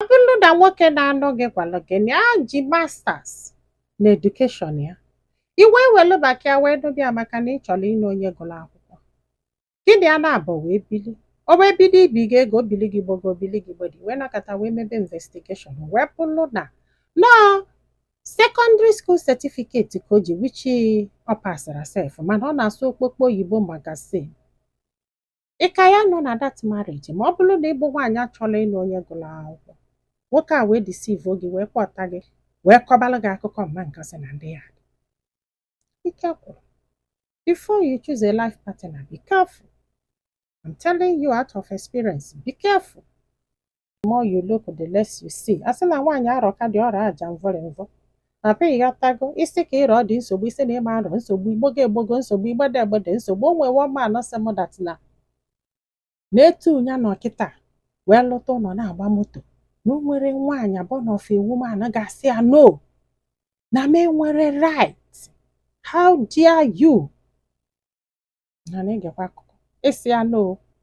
ọ bụrụ na nwoke na-anụ gị gwalụ gị na ya ji masters na edukeshọn ya ị wee welu maka ya wee nụba ya maka na ị chọrọ ịnụ onye gụrụ akwụkwọ gị na ya na-abụ wee bili o wee bido ibi gị ego o bili gị gbogo o bili gị gbede ị wee nọkata wee mebe investigeshọn wee bụrụ na nọọ sekọndịrị skuul setifiketi ka o ji wichi ọ pasarọ sef mana ọ na-asụ okpokpo oyibo magazin ị ka ya-anọ na that marriage ma ọ bụrụ na ị bụ nwaanyị chọlụ ịnụ onye gụrụ akwụkwọ nwoke a wee deceive gị wee kpọta gị wee kọbalụ gị akụkọ Mma Nkasị na ndị yard ike gwụrụ before you choose a life partner be careful I'm telling you out of experience be careful the more you look the less you see a sị na nwaanyị arọka di ọ rọ aja mvọrị mvọ papa ịghọtago ị sị ka ị rọ di nsogbu ị sị na ị ma arọ nsogbu ị gbogo egbogo nsogbu ị gbede egbede nsogbu o nwee one man sị m dat na na-etu ụnya na ọ kịta wee lụta ụlọ na-agba moto na o nwerọ nwaanyị ọbụna ofu woman ga-asị ya no na m enwerọ right how dare you na na-egekwa akụkọ ịsị ya no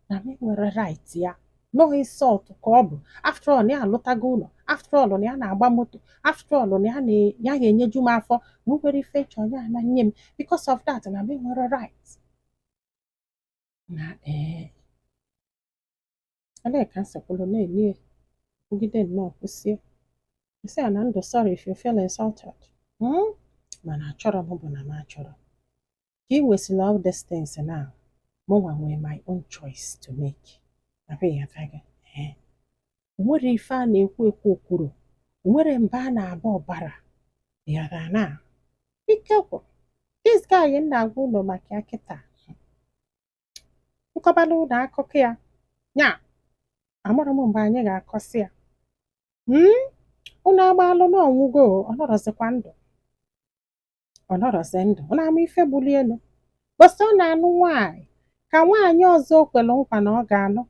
na m enwerọ right ya na ọ insult ka ọ bụ after all na ya alụtago ụlọ after all na ya na-agba moto after all na ya na- ya ga-enyeju m afọ na o nwerọ ife m chọ ya na nye m because of that na m enwerọ right na ee Olee ka nsọpụrụ na-enye ya? Kwugide nnọọ kwụsie. M sị ya nna ndo sorry if you feel insulted. Hmm? Mana achọrọ m bụ na m achọrọ. Ka ị nwesịrị all these things na mụnwa nwee my own choice to make. Abụghị aka gị. Ee. O nwerọ ife a na-ekwu ekwu o kwurọ. O nwerọ mba a na-aba ọ barọ. Yara na. Ike gwụrụ. This guy m na-agwa ụnụ maka ya kịta. m kọbalụ ụnụ akụkọ ya nya amarọ m mgbe anyị ga-akọsị ya mm? ụnụ amalụ na ọ nwụgo ọ nọrọzikwa ndụ ọ nọrọzi ndụ ụnụ ama ife gbulie ụbọsị ọ na-anụ nwaanyị ka nwaanyị ọzọ o kwere nkwa na ọ ga-anụ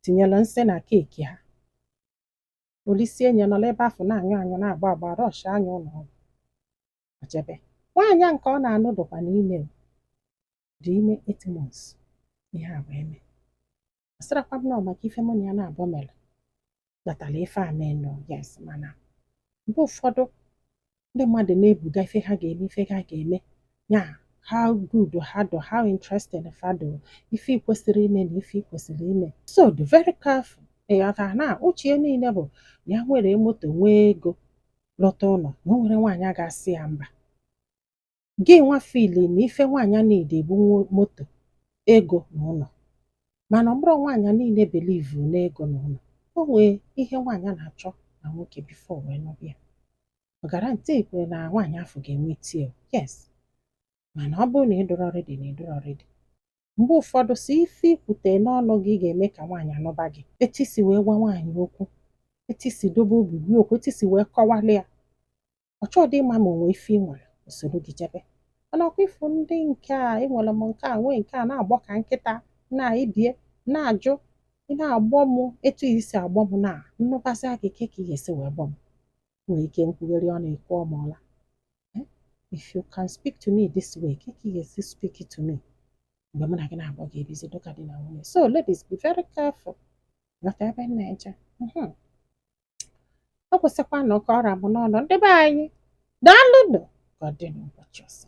tinyere nsị na keeki ha o lisie nya nọrọ ebe afụ na-anyụ anyụ na-agbọ agbọ a rọshaa nya ụlọ ọgwụ o jebe nwaanyị a nke ọ na-anụ dụkwanụ ime dị ime eight months ihe a wee mee asịrọkwa m na ọ maka ife mụ na ya na-abụọ mere kpatara ife a mee no yes mana mgbe ụfọdụ ndị mmadụ na-ebuga ife ha ga-eme ife ha ga-eme ya how good ha dụ how interested fa dụ ife ị kwesịrị ime na ife ị kwesịrị ime so dị very careful ị ghọta na uche niile bụ na ya nwere moto nwee ego lụta ụlọ na o nwerọ nwaanyị ga-asị ya mba gị nwa feel na ife nwaanyị na-need bụ moto ego na ụnọ mana ọ bụrọ nwaanyị niile believe na ego na ụnọ o nwee ihe nwaanyị na-achọ na nwoke before wee nụba ya ọ guarantee kwa na nwaanyị afụ ga-enwe tie yes mana ọ bụrụ na ị dịrọ ready na ị dịrọ ready mgbe ụfọdụ si ife i kwute n'ọnụ gị ga-eme ka nwaanyị anụba gị etu i si wee gwa nwaanyị okwu etu i si dobe obi gị okwu etu i si wee kọwalị ya ọ chọghịdị ịma ma o nwe ife ị nwere o soro gị jebe mana ọ kwa ị fụ ndị nke a enwere m nke a nwee nke a na-agbọ ka nkịta na ibie na-ajụ ị na-agbọ m etu i si agbọ m na m nụbasịa gị ka ị ga-esi wee gbọ m nwere ike nkwugharị ọnụ ike ọmụọla if you can speak to me this way ka ị ga-esi speak to me mgbe mụ na gị nabọ ga-ebizi dịka di na nwunye so ladies be very careful ghọta ebe m na-eje ọ bụzikwanụ ka ọ ra m n'ọnụ ndị be anyị daalụnụ ka ọ dị n'ụbọchị ọzọ